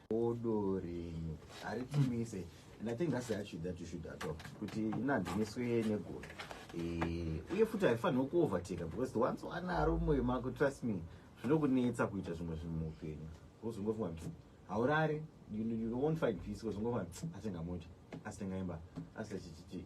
Bodo renyu haritumise and I think that's the attitude that you should adopt kuti inanziniswe negodo eh, uye futi haifanirwa kuoverteka because the once wanaro mumwe mako trust me zvinokunetsa kuita zvimwe zvinhu muupenyu wozongofunga kuti haurare you, you won't find peace wozongofunga kuti atenga mota asitenga imba asita chichichi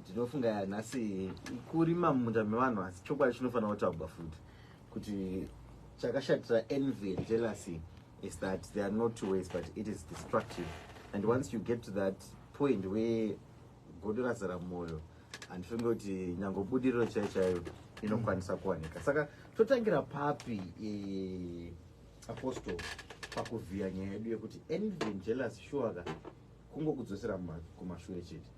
ndinofunga yanhasi kurima mumunda mevanhu asi chokwadi chinofanira kutaugwa futi kuti chakashatira envy and jealousy is that they are not two ways but it is destructive and once you get to that point where godo razara mwoyo handifunge kuti nyange budiriro chaiyo chaiyo inokwanisa kuwanika saka totangira papi e, apostol pakuvhiya nyaya yedu yekuti envy and jealousy shuwaka kungokudzosera kumashure chete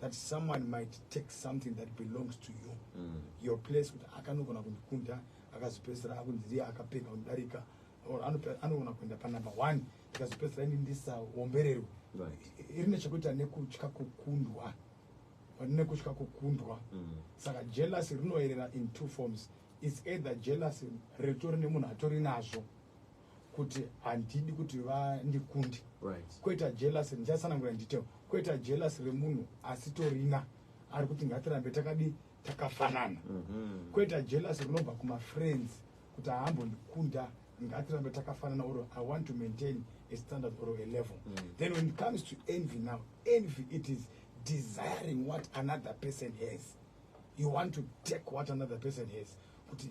that someone might take something that belongs to you mm. your place kuti akanogona kundikunda akazopedzisira akunzi ndiye akapfeka kundarika or anogona kuenda panumber one ikazopedzisira ini ndisaombererwe irine chekuita nekutya kukundwa nekutya kukundwa mm. saka jealousy rinoerera in two forms its either jealousy ritori nemunhu atori nazvo kuti handidi kuti vandikunde right. kweta jelas ndichasanangura ndite kweta jelas remunhu asitorina ari kuti ngatirambe takadi takafanana mm -hmm. kweta jelas rinobva kumafriends kuti ahambondikunda ngatirambe takafanana or i want to maintain a standard or a level mm -hmm. then when it comes to envy now envy it is desiring what another person has you want to take what another person has kuti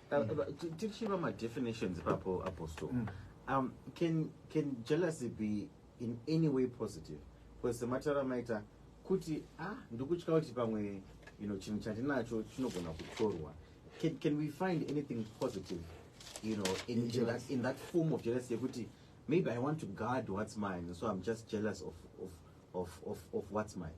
Uh, tichiva madefinitions ipapo apostle mm. um, can, can jealousy be in any way positive because sematara maita kuti ah ndikutya kuti pamwe you know chinhu chandinacho chinogona kutorwa can, can we find anything positive you know in, in, in, that, in that form of jealousy yekuti maybe i want to guard what's mine so i'm just jealous of, of, of, of, of what's mine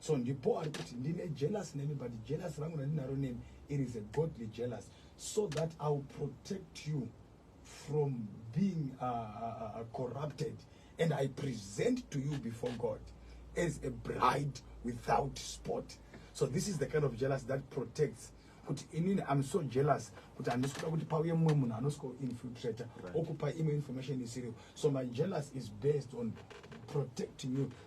so ndipo ari kuti ndine jealous nemi but jealous rangu randinaro nemi it is a godly jealous so that i will protect you from being uh, uh, uh, corrupted and i present to you before god as a bride without spot so this is the kind of jealous that protects kuti inini im so jealous kuti handisi kuda kuti pauye mumwe munhu anosiko infiltrate okupa imwe information isiriyo so my jealous is based on protecting you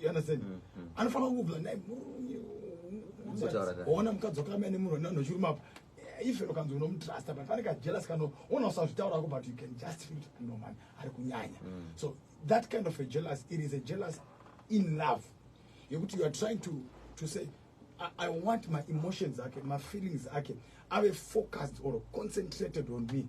you understand mm -hmm. anofanira kugula naye murume ona mukadzi wakamene munhu nano chiruma apa eh, even ukanzi unomutrusta but pane kajealous kano ona usazvitaura ko but you can just feel kuti no man ari kunyanya mm. so that kind of a jealous it is a jealous in love yekuti you are trying to to say I, I want my emotions ake my feelings ake ave focused or concentrated on me mm.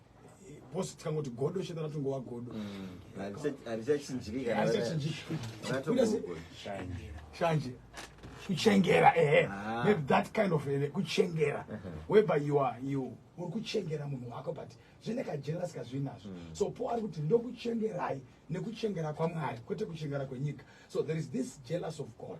boss tikangoti godo sheta ratongova godo arichachinjikashanje kuchengera ehe ah. maybe that kind of eh, kuchengera uh-huh. whereby you are you uri kuchengera munhu wako but zvine kajealous kazvinazvo mm. so po ari kuti ndokuchengerai nekuchengera kwamwari kwete kuchengera kwenyika so there is this jealous of god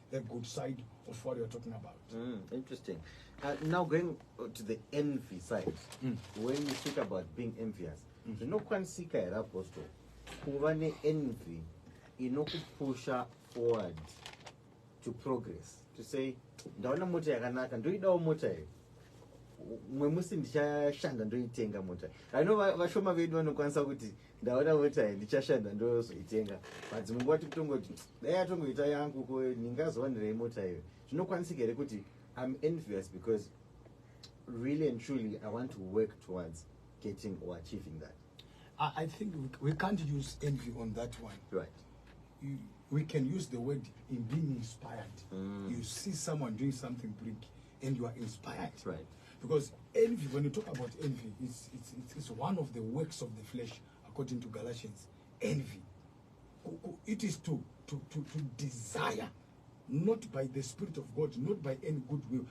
the good side of what you're talking about. Mm, interesting. Uh, now going to the envy side, mm. when you speak about being envious, mm. the no kwanisika here apostle kuva neenvy inokupusha forward to progress to say ndaona mota yakanaka ndoidawo mota here mwe musi ndichashanda ndoitenga mota i know vashoma vedu vanokwanisa kuti va, ndaona voti hai ndichashanda ndozoitenga but dzimwe nguva tikutongoti dai atongoita yangu ko ndingazowanirei mota iyo zvinokwanisika here kuti im envious because really and truly i want to work towards getting or achieving that i think we can't use envy on that one right you, we can use the word in being inspired mm. you see someone doing something big and you are inspired right. because envy when you talk about envy it's, it's, it's, it's one of the works of the flesh according to galatians envy it is to, to, to, to desire not by the spirit of god not by any good will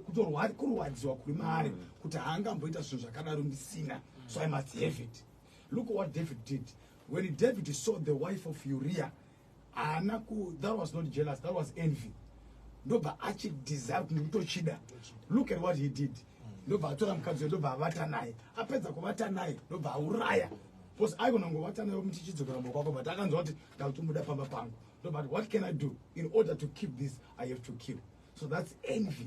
kutorwadziwa kuri maari mm. kuti haangamboita zvinhu zvakadaro ndisina so i must have it look what david did when david saw the wife of uriah haana ku that was not jealous that was envy ndobva achidesire kunge kutochida look at what he did ndobva atora mukadzi uyo ndobva avata naye apedza kuvata naye ndobva auraya bcause aigona kungovata naye omuti chidzokera mbo kwako but akanzwa kuti ndakutimuda pamba pangu ndobva ati what can i do in order to keep this i have to kill so that's envy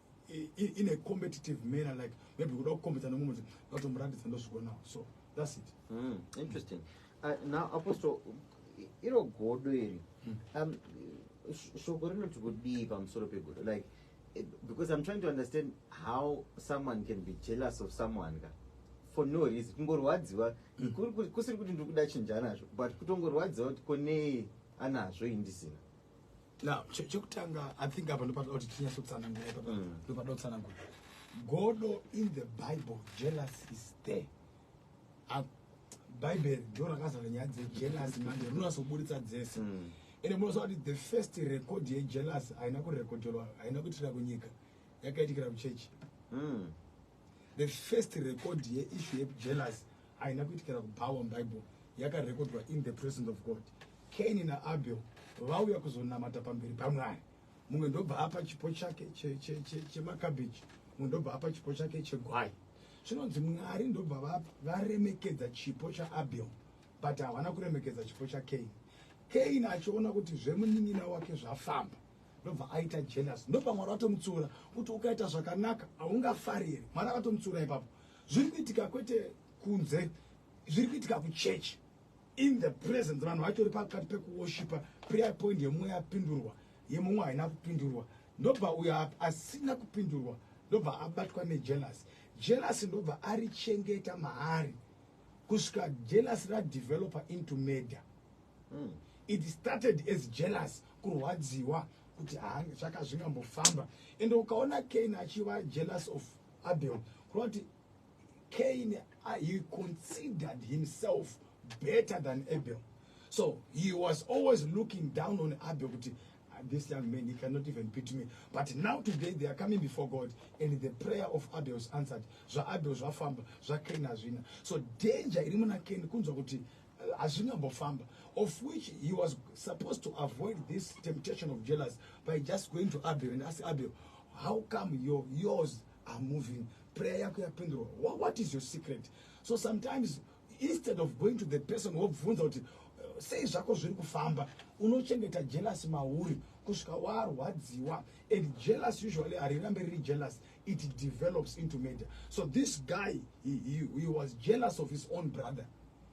in a competitive manner like maybe kuda kukombedza nomumwe kuti ndatomuratidza ndozvigonawo so thats it mm, interesting uh, now apostle iro godo iri hmm. um, shoko rinoti kudii pamusoro pegodo like eh, because i'm trying to understand how someone can be jealous of someone ka for no reason kungorwadziwa hmm. kusiri kuti ndiri kuda chinja nazvo but kutongorwadziwa kuti konei anazvo indisina now chekutanga i think apa ndopatoda kuti tinyatsotsanangura ipapa mm. ndopatoda kutsanangura godo in the bible jealous is there ah, bible ndo rakazara nyaya dzejealous manje rinonasoburitsa dzese mm. ende munoziva kuti the first record yejealous haina kurekodhelwa haina kuitira kunyika yakaitikira kuchechi mm. The first record yeissue yejealousy haina kuitikira kubhawa mubible yakarekodwa in the presence of god kaini naabel vauya kuzonamata pamberi pamwari mumwe ndobva apa chipo chake chemakabeji mumwe ndobva apa chipo chake chegwai zvinonzi mwari ndobva varemekedza chipo chaabel but havana kuremekedza chipo chakaini kaini achiona kuti zvemunin'ina wake zvafamba ndobva aita jealous ndobva mwari vatomutsiura kuti ukaita zvakanaka haungafariri mwari akatomutsiura ipapo zviri kuitika kwete kunze zviri kuitika kuchechi in the presence vanhu vatori pakati pekuwoshipa prayer point yemumwe yapindurwa yemumwe haina kupindurwa ndobva uyo asina kupindurwa ndobva abatwa nejealous jealous ndobva arichengeta maari kusvika jealous radeveloper into murder Mm. It started as jealous kurwadziwa kuti zvaka zvingambofamba and ukaona Cain achiva jealous of Abel kureva kuti Cain uh, he considered himself better than Abel so he was always looking down on Abel kuti ah, this young man he cannot even beat me but now today they are coming before God and the prayer of Abel is answered zvaAbel zvafamba zvaCain hazvina so danger iri muna Cain kunzwa kuti hazvina mbofamba of which he was supposed to avoid this temptation of jealous by just going to abel and ask abel how come your, yours are moving prayer yako yapindurwa what, what is your secret so sometimes instead of going to the person wobvunza kuti uh, sei zvako zviri kufamba unochengeta jealous mauri kusvika warwadziwa and jealous usually harirambe riri jealous it develops into murder so this guy he, he, he was jealous of his own brother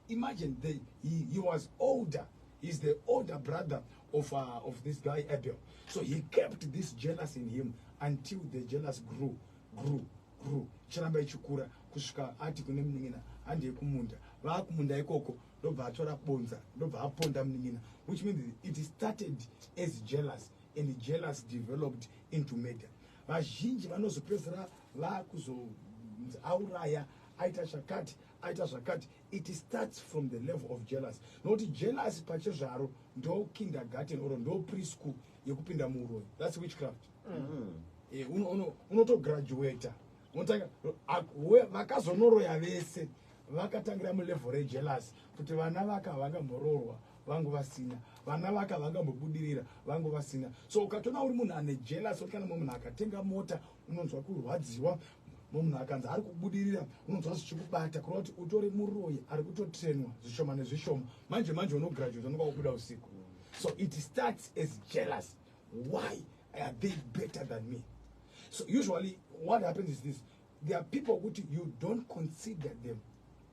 Imagine they, he, he was older. He's the older brother of, uh, of this guy Abel. So he kept this jealous in him until the jealous grew, grew, grew. Chiramba ichikura kusvika ati kune munin'ina handei kumunda. Vaakumunda ikoko ndobva atora bonza ndobva aponda munin'ina which means it started as jealous and jealous developed into murder. Vazhinji vanozopedzera vakuzo auraya aita chakati aita zvakati it starts from the level of jealous nokuti jealous pachezvaro ndo kindergarten or ndo preschool yekupinda muuroyi thats witchcraft mm. eh, unotograduata unotanga vakazonoroya vese vakatangira mulevel rejealous kuti vana vaka vakamboroorwa vangu vasina vana vaka vakambobudirira vangu vasina so ukatoona uri munhu ane jelas oti kana mumwe munhu akatenga mota unonzwa kurwadziwa munhu akanzi ari kubudirira unonzwa zvichikubata kureva kuti utori muroyi ari kutotrenwa zvishoma nezvishoma manje manje unograduate unonga wakubuda usiku so it starts as jealous why are they better than me so usually what happens is this there are people who you don't consider them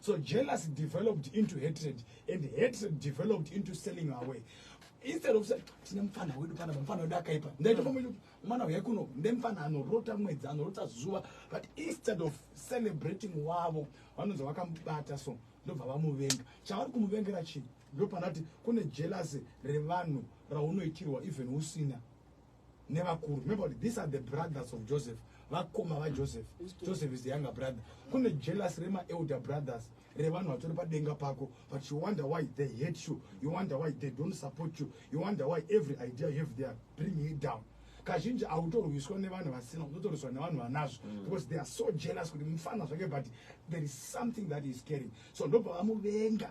So jealousy developed into hatred and hatred developed into selling away. Instead of saying, tine mfana wedu pana mfana wedu akaipa. Ndaita pamwe kuti mwana uya kuno ne mfana anorota mwedzi anorota zuva but instead of celebrating wavo vanonzi vakamubata so ndobva vamuvenga. Chavari kumuvengera chii? Ndopanati kune jealousy revanhu raunoitirwa even usina. nevakuru remember kuti these are the brothers of joseph vakoma vajoseph joseph is the younger brother kune jealous remaelder brothers revanhu vatori padenga pako but you wonder why they hate you you wonder why they don't support you you wonder why every idea you have there bringing it down kazhinji hautorwiswa nevanhu vasina unotorwiswa nevanhu vanazvo mm. because they are so jealous kuti mufana zvake but there is something that is caring so ndobva vamuvenga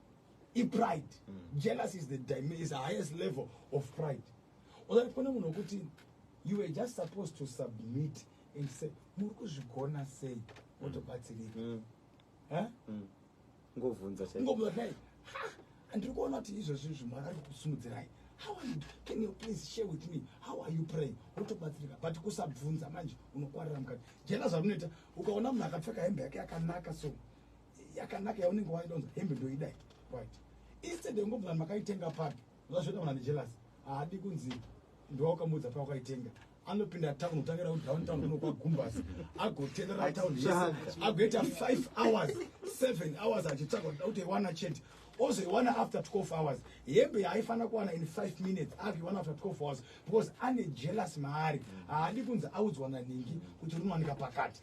i pride mm. jealous is the is the highest level of pride ozati kune munhu wekuti you were just supposed to submit and say muri kuzvigona sei mm. wotobatsirika mm. mm. ngovhunza ngobvunza dai andiri kuona kuti izvozvi zvimwari ari kusimudzirai how are you can you please share with me how are you praying wotobatsirika but kusabvunza manje unokwarira mukati jena zvamunoita ukaona munhu akapfeka hembe yake yakanaka so yakanaka yaunenge waida unzi hembe ndoidai right instead yongobvuna makaitenga papi zvazvoita muna nejelas haadi kunzi ndowakamuudza pawakaitenga anopinda town kutangira kudowntown kuno kwagumbasi agotenera town yese agoita five hours seven hours achitsvaga kuda kuti iwana chete ozoiwana after 12 hours hembe yaifanira kuwana in five minutes akuiwana after 12 hours because ane jealous maari haadi kunzi audzwa naningi kuti rinowanika pakati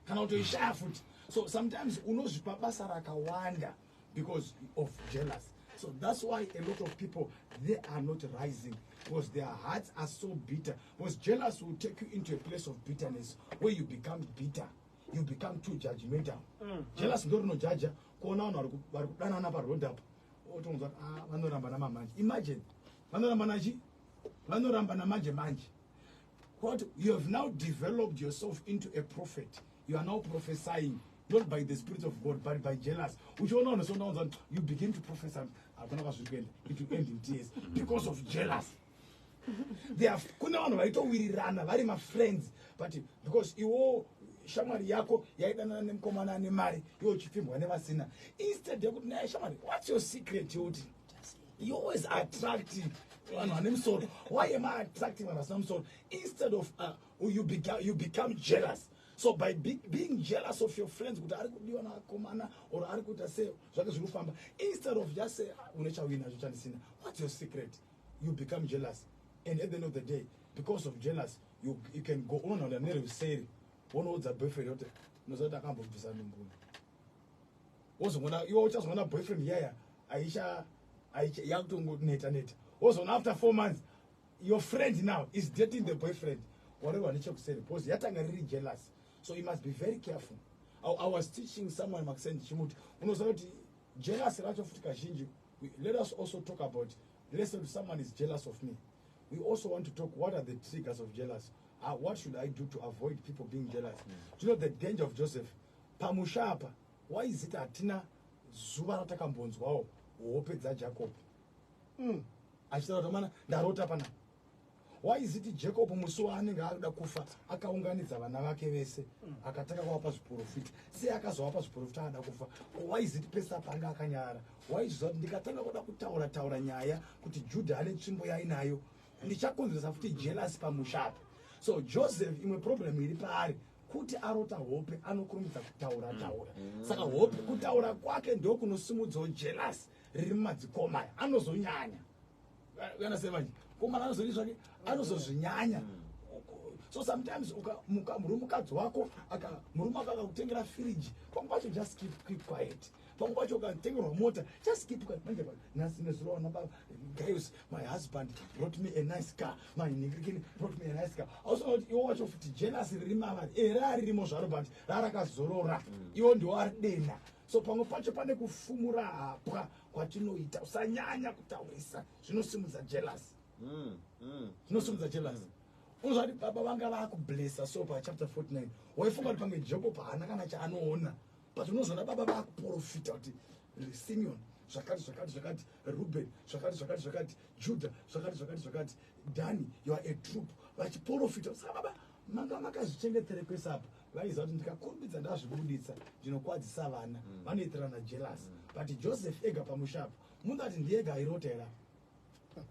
kana kutoishaya futi so sometimes unozvipa basa rakawanda because of jealous so that's why a lot of people they are not rising because their hearts are so bitter because jealous will take you into a place of bitterness where you become bitter you become too judgmental mm. jealous ndo rinojaja kuona vanhu vari kudanana paroad apo otonzwa kuti ah, vanoramba namamanje imagine vanoramba nachi vanoramba namanje manje Quote, you have now developed yourself into a prophet. You are now prophesying, not by the Spirit of God, but by jealous. Which you know, so now you begin to prophesy. I'm ah, going to It will end in tears because of jealous. They have kune vanhu vaitowirirana vari mafriends but because iwo shamwari yako yaidanana nemukomana ane mari iwo uchipfimbwa nevasina instead yekuti naye shamwari what's your secret yoti you always attract vanhu vane musoro why am i attracting vanhu vasina musoro instead of uh, you, become, you become jealous so by be, being jealous of your friends kuti ari kudiwa naakomana or ari kuita se zvake zviri kufamba instead of just say ah, une chawina zvochandisina what's your secret you become jealous and at the end of the day because of jealous you, you can go unonaura neruseri wonoudza boyfriend yote unoziva kuti akambobvisa ndumbuno wozongona iwe uchazongona boyfriend yaya aisha aisha yakutongo neta neta wozongona after 4 months your friend now is dating the boyfriend whatever ane chekuseri because yatanga riri jealous so you must be very careful I, i was teaching someone makuseni ndichimuti unoziva kuti jealous racho futi kazhinji let us also talk about let's say someone is jealous of me we also want to talk what are the triggers of jealous uh, what should i do to avoid people being jealous mm. do you know the danger of joseph Pamusha apa waizi ita hatina zuva ratakambonzwawo hope dzaJacob umm achitaura kuti amana ndarota panapa waizi iti Jacob musi waanenge akuda kufa akaunganidza vana vake vese akatanga kuvapa zviporofita sei akazovapa zviporofita aada kufa waizi iti pese apa anga akanyara waizviziva kuti ndikatanga kuda kutaura taura nyaya kuti Juda ane tsvimbo yainayo ndichakonzeresa futi jealous pamusha apa so Joseph imwe problem iri paari kuti arota hope anokurumidza kutaura taura mm. saka hope kutaura kwake ndokunosimudzawo jelas riri mumadzikomaya anozonyanya kana sei manje komana anozoi zvake anozozvinyanya mm. so sometimes murume mukadzi wako murume wako akakutengera firiji pamwe pacho just keep, keep quiet pamwe pacho ukatengerwa mota just keep quiet manje nhasi nezuro wana baba guys my husband brought me a nice car my ningirikini brought me a nice car ausona kuti iwo wacho futi jealous riri mavari ere aririmo zvaro but rarakazorora mm. iwo ndiwo ari dena so pamwe pacho pane kufumura hapwa kwatinoita usanyanya kutaurisa zvinosimudza jealous mm, mm. zvinosimudza jealous uzvati baba vanga vakublessa so pachapter 49 waifunga kuti pange joko paana kana chaanoona but unozoona baba vakuprofita kuti simeon zvakati zvakati zvakati ruben zvakati zvakati zvakati juda zvakati zvakati zvakati dani yoa a troop vachiprofita saka baba manga makazvichengetere kwese apa vaiziva kuti ndikakurumbidza ndazvibuditsa ndinokwadzisa vana mm. vanoitirana jealous mm. but joseph ega pamusha apo munhu ati ndiega airota era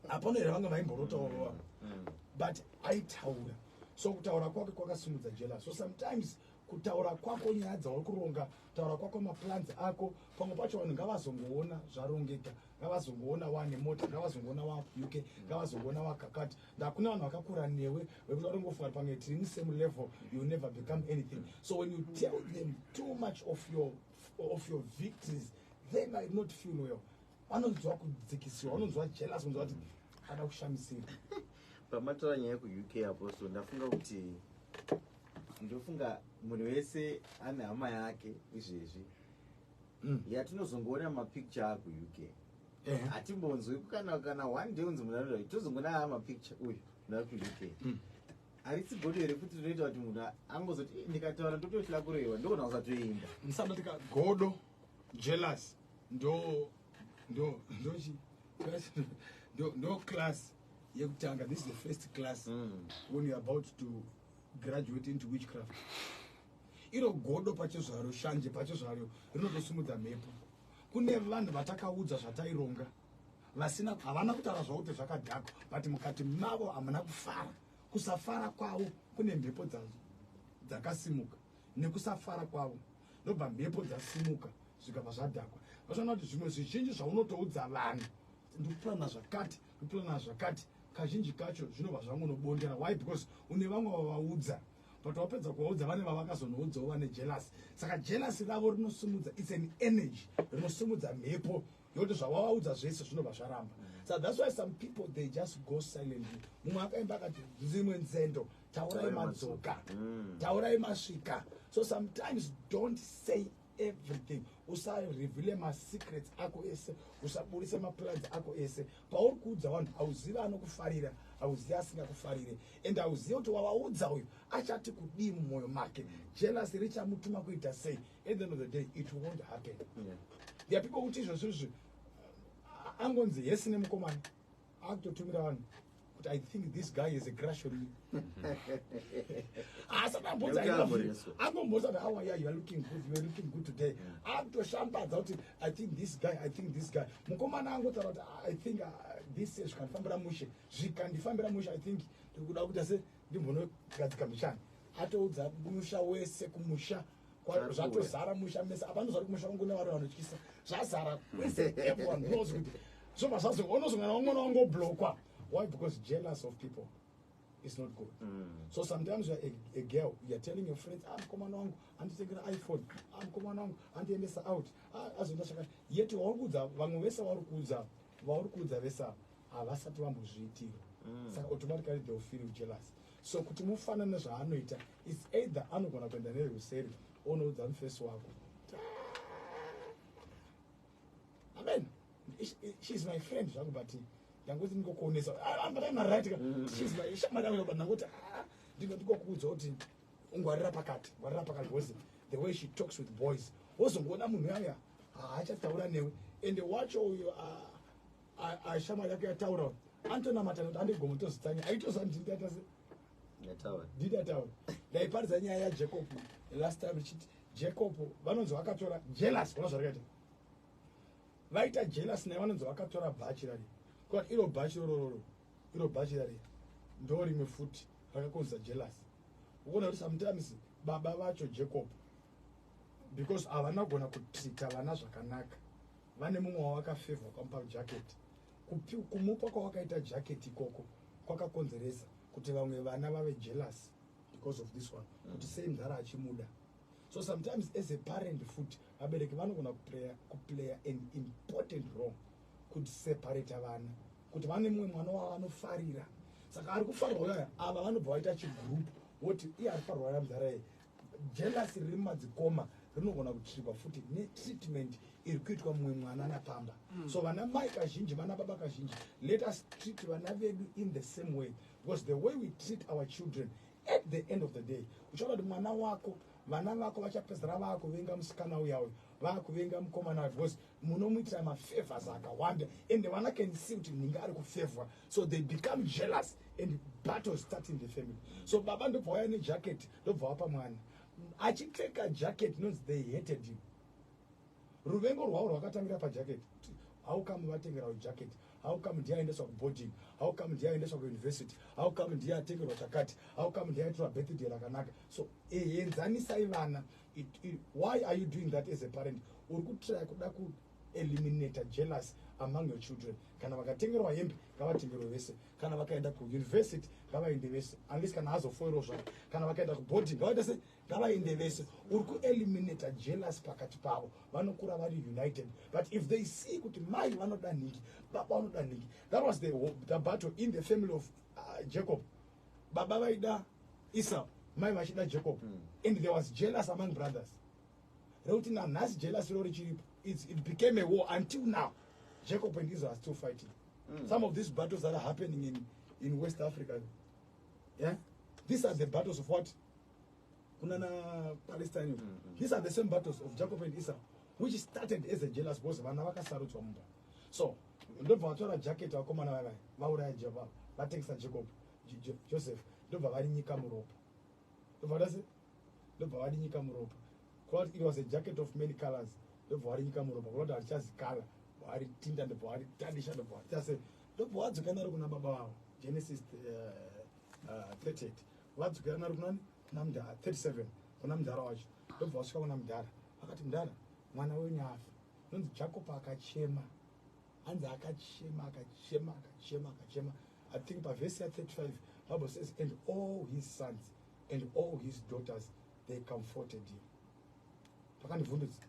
hapana here vanga vaimborotawo mm, vavo mm. but aitaura so kutaura kwake kwakasimudza jealous so sometimes kutaura kwako nyaya dzauri kuronga taura kwako maplans ako pamwe pacho vanhu ngavazongoona zvarongeka ngavazongoona wane mota ngavazongoona wa uk ngavazongoona wakakati ndakune vanhu vakakura newe vekuti vatongofunga kuti pange tiri musame level you never become anything so when you tell them too much of your, of your victories they might not feel well vanonzwa kudzikisiwa vanonzwa jealous kunzwa kuti ada kushamisira pamatora nyaya kuuk apo so ndafunga kuti ndofunga munhu wese ane hama yake izvezvi mm. yatinozongoona mapicture aku uk eh. hatimbonzwi kana kana one day unzi munhu anoda tozongoona aa mapicture uyu nda ku uk mm. harisi godo here futi rinoita kuti munhu angozoti eh, ndikataura ndotohla kuroiwa ndokona kusatoenda musandoti ka godo jealous ndo ndo ndochi ndo ndo class yekutanga this is the first class mm. when you're about to graduate into witchcraft iro godo pacho zvaro shanje pacho zvaro rinotosimudza mhepo kune vanhu vatakaudza zvataironga vasina havana kutaura zvavo kuti zvakadhakwa but mukati mavo hamuna kufara kusafara kwavo kune mhepo dzakasimuka nekusafara kwavo ndobva mhepo dzasimuka zvikabva zvadhakwa vachiona kuti zvimwe zvizhinji zvaunotoudza vanhu ndikupurana zvakati ndikupurana zvakati kazhinji kacho zvinobva zvangonobondera why because une vamwe vavaudza but wapedza kuvaudza vane vavakazonoudzawo vane jelasi saka jelasi ravo rinosimudza its an energy rinosimudza mhepo nekuti zvawavaudza zvese zvinobva zvaramba so that's why some people they just go silently mumwe akaimba akati dzimwe nzendo taurai madzoka mm. taurai masvika so sometimes don't say everything usarevele masecrets ako ese usaburise maplans ako ese pauri kuudza vanhu hauzivi anokufarira hauzivi asingakufarire and hauzivi kuti wavaudza uyu achati kudii mumwoyo make jealousy richamutuma kuita sei At the end of the day it won't happen. Yeah. There are people who teach us angonzi hesi nemukomana akutotumira vanhu kuti i think this guy is a crush on me asati ambonzi angombonzi ati how are you are looking good you are looking good today akutoshambadza kuti i think this guy i think this guy mukomana angotaura kuti i think uh, this year zvikandifambira mushe zvikandifambira mushe i think ndikuda kuita se ndimbonogadzika mishani atoudza musha wese kumusha Kwa- zvatozara musha mese apa ndozvari kumusha kwangu nevari vanotyisa zvazara kwese everyone knows kuti zvobva zvazonozongana wamwana wangu oblokwa why because jealous of people is not good so sometimes you're a, a girl you're telling your friends ah mkomana wangu anditengera iphone ah mkomana wangu andiendesa out ah azoenda chakati yet wauri kuudza vamwe vese wauri kuudza vauri kuudza vese ava havasati vambozviitira saka automatically they will feel jealous so kuti mufanane zvaanoita It's either anogona kuenda nerwuseri onoudza mufesi wako. Amen. She's my friend zvangu but ndangoti ndingokuonesa. Ah, but I'm right. Mm. She's my shamwari yangu but ndangoti ah, ndingokuudza kuti ungwarira pakati, ngwarira pakati because the way she talks with boys. Wozongoona munhu yaya haachataura newe ende wacho uyo ashamwari yako yataura antonamata kuti andigomotozitanya aitozandindiatase did ataura ndaiparidza nyaya yajacob last time richiti jacob vanonzi vakatora jealous ona zvarikaita vaita jealous naye vanonzi vakatora bhachi rari kut iro bhachi rorororo iro bhachi rari ndo rimwe futi rakakonzisa jealous ukuona kuti sometimes baba vacho jacob because havana kugona kutrita vana zvakanaka vane mumwe wavakafevha kwamuparo jacket Kupi, kumupa kwawakaita jacket ikoko kwakakonzeresa kuti vamwe vana vave jealous because of this one mm. kuti sei mdhara achimuda so sometimes as a parent foot vabereki vanogona kuplaya an important role kuti separate vana kuti vane mumwe mwana wavo vanofarira saka ari kufarwa uyaya ava vanobva vaita chigroup woti iye ari farwa yamdhara ye Jealousy riri mumadzikoma rinogona kutsvirwa futi netreatment iri kuitwa mumwe mwana napamba mm. so vana mai kazhinji vana baba kazhinji let us treat vana vedu in the same way because the way we treat our children at the end of the day uchaona kuti mwana wako vana vako vachapedzera vakuvenga musikana uya uyo vakuvenga mukomana uyo because munomuitira mafavors akawanda and vana can see kuti ninga ari kufavor so they become jealous and battle start in the family so baba ndobva waya nejaketi ndobva wapa mwana achipfeka jacket inonzi they hated him ruvengo rwavo rwakatangira pajacket how come vatengerawo jacket how come ndiye aendeswa kuboarding how come ndiye aendeswa kuuniversity how come ndiye atengerwa chakati how come ndiye aitirwa birthday rakanaka so eh, enzanisai vana why are you doing that as a parent uri kutraya kuda kueliminata jealous among your children kana vakatengerwa hembe ngavatengerwe vese kana vakaenda kuuniversity ngavaende vese unless kana azofoirwa zvavo kana vakaenda kuboarding ngavaita se ngavaende vese uri kueliminata jealous pakati pavo vanokura vari united but if they see kuti mai vanoda nhingi baba vanoda nhingi that was the, the battle in the family of uh, jacob baba vaida esau mai vachida jacob mm. and there was jealous among brothers rekuti nanhasi jealous ro richiripo it became a war until now jacob and israel are still fighting mm. some of these battles that are happening in, in west africa yeah? these are the battles of what kunana palestine mm -hmm. these are the same battles of jacob and isa which started as a jealous because vana vakasarudzwa mumba so ndobva vatora jacket vakomana vavai vauraya java vatengesa jacob joseph ndobva vari nyika muropa ndobva vati asi ndobva vati nyika muropa kwakuti it was a jacket of many colors ndobva wari nyika muropa kwakuti hatichazi color wari tinda ndobva wari tadisha ndobva wati ase ndobva wadzokera naro kuna baba vavo genesis uh, uh, 38 vadzokera naro kunani kuna mdhara 37 kuna mdhara wacho ndobva wasvika kuna mdhara vakati mdhara mwana wenyu afa nonzi jacob akachema hanzi akachema akachema akachema akachema I think pa verse ya 35 Bible says and all his sons and all his daughters they comforted him. Pakandivhundutsa.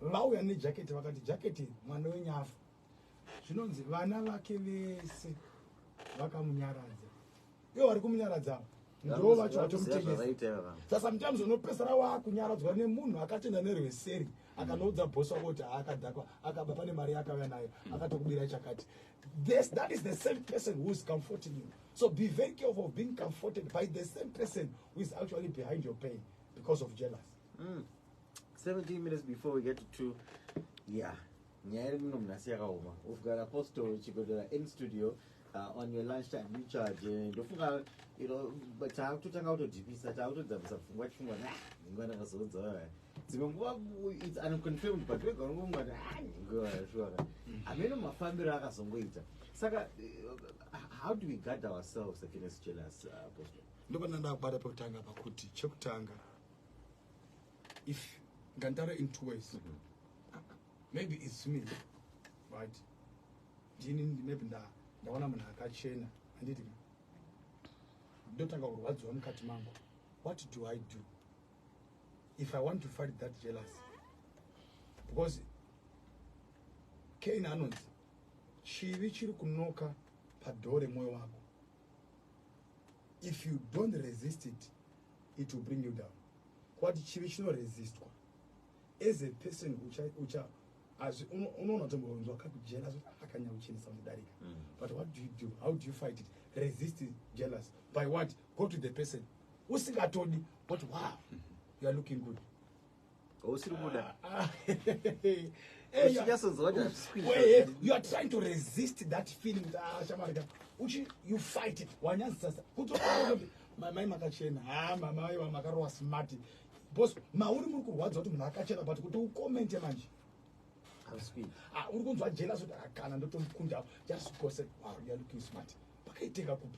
Vauya ne jacket vakati jacket mwana wenyafu. Zvinonzi vana vake vese vakamunyaradza. ivo vari kumunyaradza ava ndoo vacho vatomutengesa sasa mutams unopesera waakunyaradzwa nemunhu akatenda nerweseri akanoudza bhos wako kuti haakadhakwa akaba pane mari yaakauya nayo akatokubira chakati this, that is the same person who is comforting you so be very careful of being comforted by the same person who is actually behind your pain because of jealous mm. 17 minutes before we get to two yeah Nyaya iri muno munhasi yakaoma. We've got Apostle Chigodora in studio uh, on your lunch time you charge eh, ndofunga you know but taakutotanga kutodhipisa taakutodzamisa pfungwa chifungwa na nhingo ndakazoudza wewe dzimwe nguva it's unconfirmed but wega unongonga kuti ah nhingo yashora ameno mafambiro akazongoita saka uh, how do we guard ourselves against jealous uh, apostle ndopana ndakubata pekutanga pakuti chekutanga if nganditaure in two ways mm -hmm. maybe its me right ndini maybe nda ndaona munhu akachena handiti ka ndotanga kurwadziwa mukati mangu what do i do if i want to fight that jealous because kain anonzi chivi chiri kunoka padhoo remwoyo wako if you don't resist it it will bring you down kwati chivi chinoresistwa as a person ucha, ucha as unoona tombonzwa kakujealous akanyauchinisa unodarika mm. but what do you do how do you fight it resist jealous by what go to the person usingatodi but wow you are looking good usiri kuda uchinyasonzwa kuti hazvisikwii you are trying to resist that feeling ah, shamarika uchi you fight it wanyazisasa kuti mamai makachena ha ah, mamai vamakarowa smart bcause mauri muri kurwadza kuti munhu akachena but kuti ukomente manje ah, uri kunzwa jelas kuti akana ndotomukunda just gose wow youare looking smart pakaitenga kupi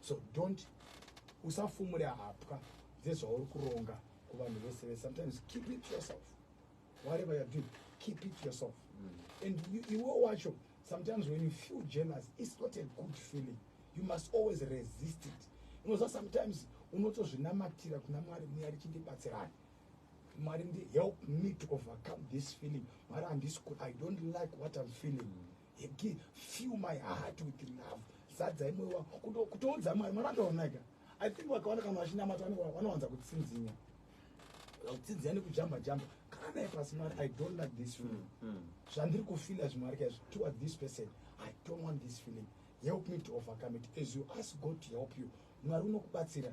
so don't usafumure hapwa dzezvauri kuronga kuvanhu vese vese sometimes keep it yourself whatever you're doing keep it yourself mm. and iwe wacho sometimes when you feel jealous it's not a good feeling you must always resist it unoziva sometimes unotozvinamatira kuna mwari muya richindibatsirani mwari ndi help me to overcome this feeling mwari handisi i don't like what i'm feeling mm. Heki, fill my heart with love. Zadza imwe wa kuto kutoudza mwari mwari akaoneka. I think wakaona kana vachinamata vanowanza kutsinzinya. Kutsinzinya nekujamba jamba. Kana naye pasi mwari I don't like this feeling. Mm, mm. Zvandiri kufila zvimwari kaizvo towards this person. I don't want this feeling. Help me to overcome it as you ask God to help you. Mwari unokubatsira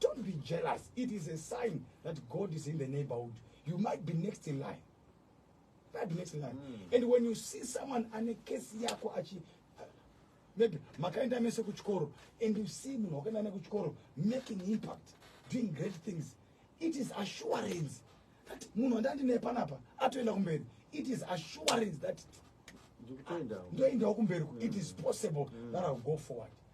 Don't be jealous. It is a sign that God is in the neighborhood. You might be next in line. Might be next in line. Mm. And when you see someone and a case yako achi uh, maybe makaenda mese kuchikoro and you see munhu wakaenda ne kuchikoro making impact doing great things it is assurance that munhu andandine panapa atoenda kumberi it is assurance that ndoendawo kumberi it is possible mm. that I'll go forward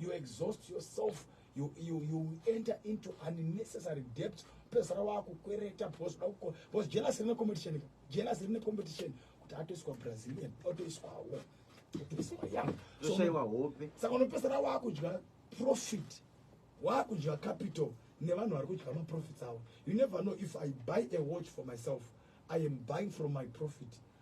you exhaust yourself you, you, you enter into unnecessary debt pezara wakukwereta because because jealous rine competition jealous rine competition kuti atoiswa brazilian otoiswawo otoiswa yang toshaiwa hope saka unopesara wakudya profit wakudya capital nevanhu vari kudya maprofits avo you never know if i buy a watch for myself i am buying from my profit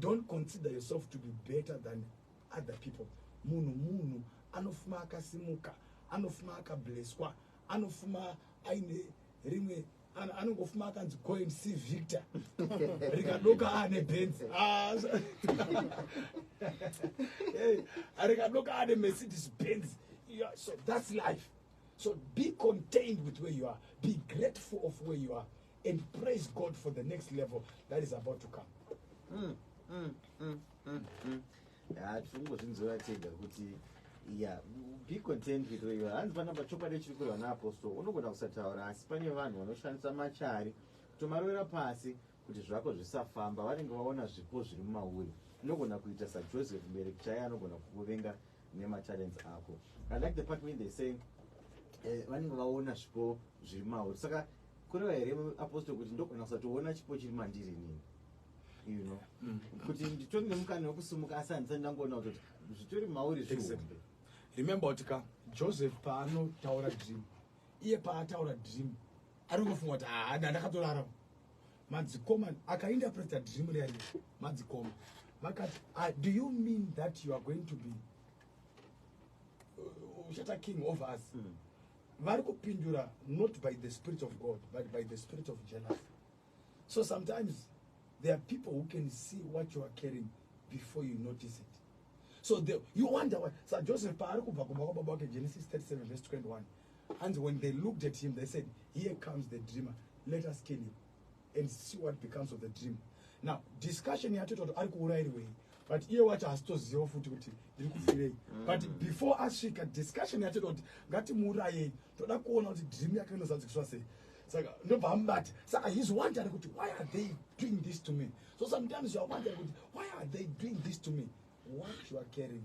Don't consider yourself to be better than other people. Munhu munhu anofuma akasimuka, anofuma akableswa, anofuma aine rimwe anongofuma akanzi coin c victor rikadoka ane benzi ah, rikadoka ane mercedes benzi so that's life so be contained with where you are be grateful of where you are and praise God for the next level that is about to come. Mm, mm, mm, mm, mm. Ah, tingozvinzwira tega kuti yeah be content with where you are hanzi panapa chokwadi chiri kurwa naapostle unogona kusataura asi pane vanhu vanoshandisa machari kutomarovera pasi kuti zvako zvisafamba vanenge vaona zvipo zviri mumauri unogona kuita sajoseph mubereki chaiye anogona kukuvenga nema talents ako i like the part when they say eh, vanenge vaona zvipo zviri mauri saka kureva here apostle kuti ndogona kusatoona chipo chiri mandiri nini you know mm. kuti nditori nemukana wekusumuka asi handisati ndangoona kutoti zvitori mauri zvihombe remember kuti ka joseph paanotaura dream iye paataura dream ari kungofunga kuti haa ah, nda ndakatorarama madzikoma akainterpreta dream riya riya madzikoma vakati ah, do you mean that you are going to be uh, uchata uh, king over us mm. vari kupindura not by the spirit of god but by the spirit of jealousy so sometimes there are people who can see what you are carrying before you notice it so the, you wonder why sa joseph paari kubva kumba kwababa wake genesis 37 vs 21 Hanzi when they looked at him, they said, here comes the dreamer, let us kill him and see what becomes of the dream. Now, discussion yatoita kuti ari kuurairwei but iye wacho hasitoziva futi kuti ndiri kufirei mm. but before asvika discussion yatoita kuti ngatimuurayei toda kuona kuti dream yake inozadzikiswa sei saka ndobva amubata saka he's wondering kuti why are they doing this to me so sometimes you are wondering kuti why are they doing this to me what you are carrying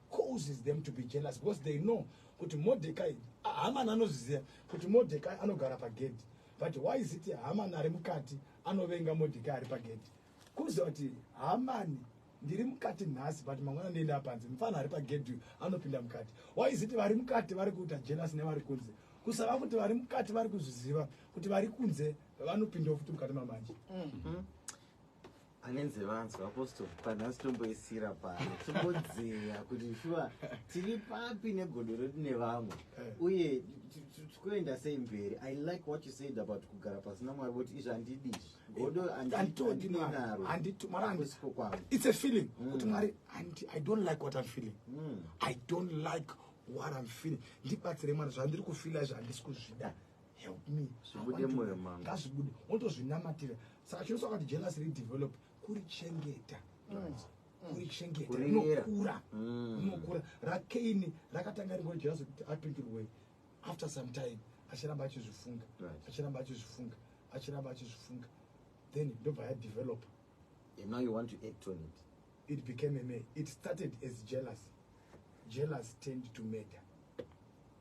causes them to be jealous because they know kuti Mordecai Haman anozviziva kuti Mordecai anogara pagedhi but why is it Haman ari mukati anovenga Mordecai ari pagedhi kuziva kuti Haman ndiri mukati nhasi but mangwana ndienda panze mfana ari pagedhi anopinda mukati why is it vari mukati vari kuita jealous nevari kunze kusava kuti vari mukati vari kuzviziva kuti vari kunze vanopindawo futi mukati mamanje mm -hmm. anenze vanzwa apostle panhasi tomboisira pano tombodzeya kuti shuwa tiri papi negodo redu nevamwe eh. uye tikuenda sei mberi i like what you said about kugara pasina mwari voti izvi handidi godo anditodinarosiko kwangu its a feeling mm. kuti mwari i don't like what im feeling mm. i don't like what im feeling ndibatsire mwari zvandiri kufila izvi handisi kuzvida help me zvibude moyo mama ngazvibude wotozvinamatira saka chinosa kuti jealous re develop kuri chengeta kuri chengeta unokura unokura rakaini rakatanga ringo jealous kuti apindurwe after some time achiramba achizvifunga achiramba achizvifunga achiramba achizvifunga then ndobva ya develop and now you want to act on it it became a me it started as jealous jealous tend to murder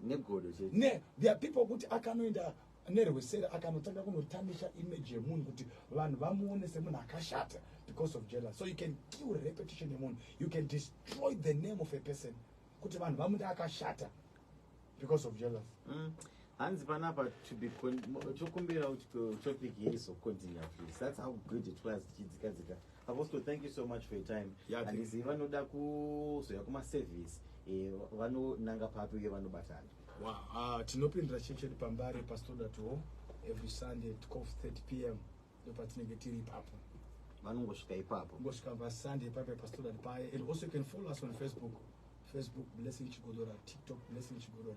negodo chete ne there are people kuti akanoenda nerwesere akanotanga kunotamisha image yemunhu kuti vanhu vamuone semunhu akashata because of jealous so you can kill repetition yemunhu you can destroy the name of a person kuti vanhu vamuti akashata because of jealous mm. hanzi panapa tokumbira topic yeizocontinue please that's how good it was tichidzikadzika Apostle, thank you so much for your time. Yeah, thank Handizivi you. vanoda kuzoya kumaservice eh, vanonanga papi uye vanobatana. Wow, ah, tinopindira church yedu pambare pastoda to every sunday at 12:30 pm ndopatinenge tiri ipapo Vanongosvika ipapo. kungosvika pasunday pape pastoda paye and also you can follow us on facebook facebook blessing chigodora tiktok blessing chigodora